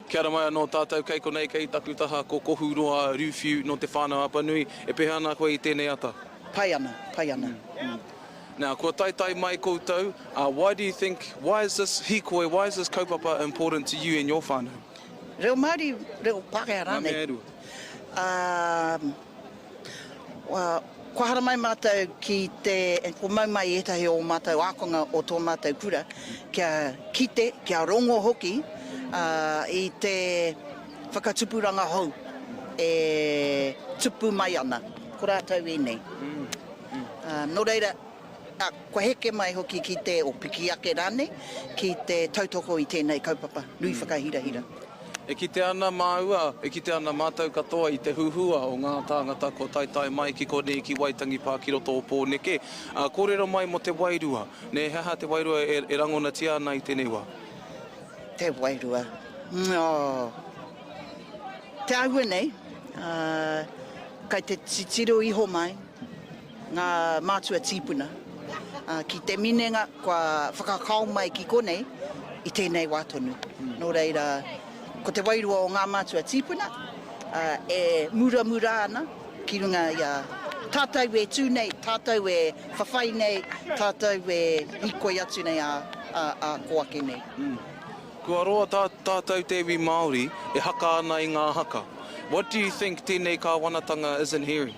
Kia ora mai anō tātou, kei konei, kei taku taha, ko Kohuroa Ruwhiu nō Te Whānau-a-Apanui. E pēhea ana koe i tēnei ata? Pai ana, pai ana. Now, kua taetae mai koutou, why do you think, why is this hikoi, why is this kaupapa important to you and your whānau? Reo Māori, reo Pākehā rānei? Ngā mea e rua. Kua haramai mātou ki te, kua mau mai ētahi o ō mātou ākonga o tō mātou kura kia kite, kia rongo hoki i te whakatupuranga hou e tupu mai ana. Ko rātou ēnei. Nō reira, kua heke mai hoki ki te, o piki ake rānei, ki te tautoko i tēnei kaupapa nui whakahirahira. E kite ana māua, e kite ana mātou katoa i te huhua o ngā tāngata kua taetae mai ki konei ki Waitangi pā ki roto o Pōneke, ā, kōrero mai mō te wairua. Nē, he aha te wairua e, e rangonatia ana i tēnei wā? Te wairua, oh, te āhua nei, ā, kei te titiro iho mai. Ngā mātua tīpuna, ki te minenga kua whakakao mai ki konei i tēnei wā tonu. Nō reira, ko te wairua o ngā mātua tīpuna e muramura ana ki runga i a tātou e tū nei, tātou e whawhai nei, tātou e hīkoi atu nei ā kō ake nei. Kua roa tā tātou te iwi Māori e haka ana i ngā haka. What do you think tēnei kāwanatanga isn't hearing?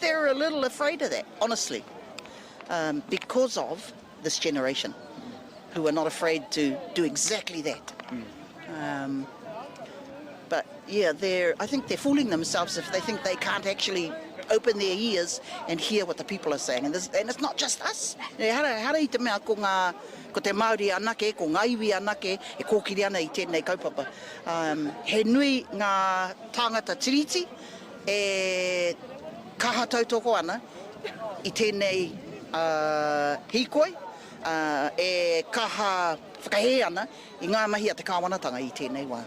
They're a little afraid of that, honestly, um, because of this generation who are not afraid to do exactly that. Mm. Um, but yeah, they're, I think they're fooling themselves if they think they can't actually open their ears and hear what the people are saying. And, this, and it's not just us. E hara, hara i te mea ko ngā, ko te Māori anake, ko ngā iwi anake, e kōkiri ana i tēnei kaupapa. Um, he nui ngā tāngata tiriti, E kaha tautoko ana i tēnei hīkoi, e kaha whakahē ana i ngā mahi a te kāwanatanga i tēnei wā.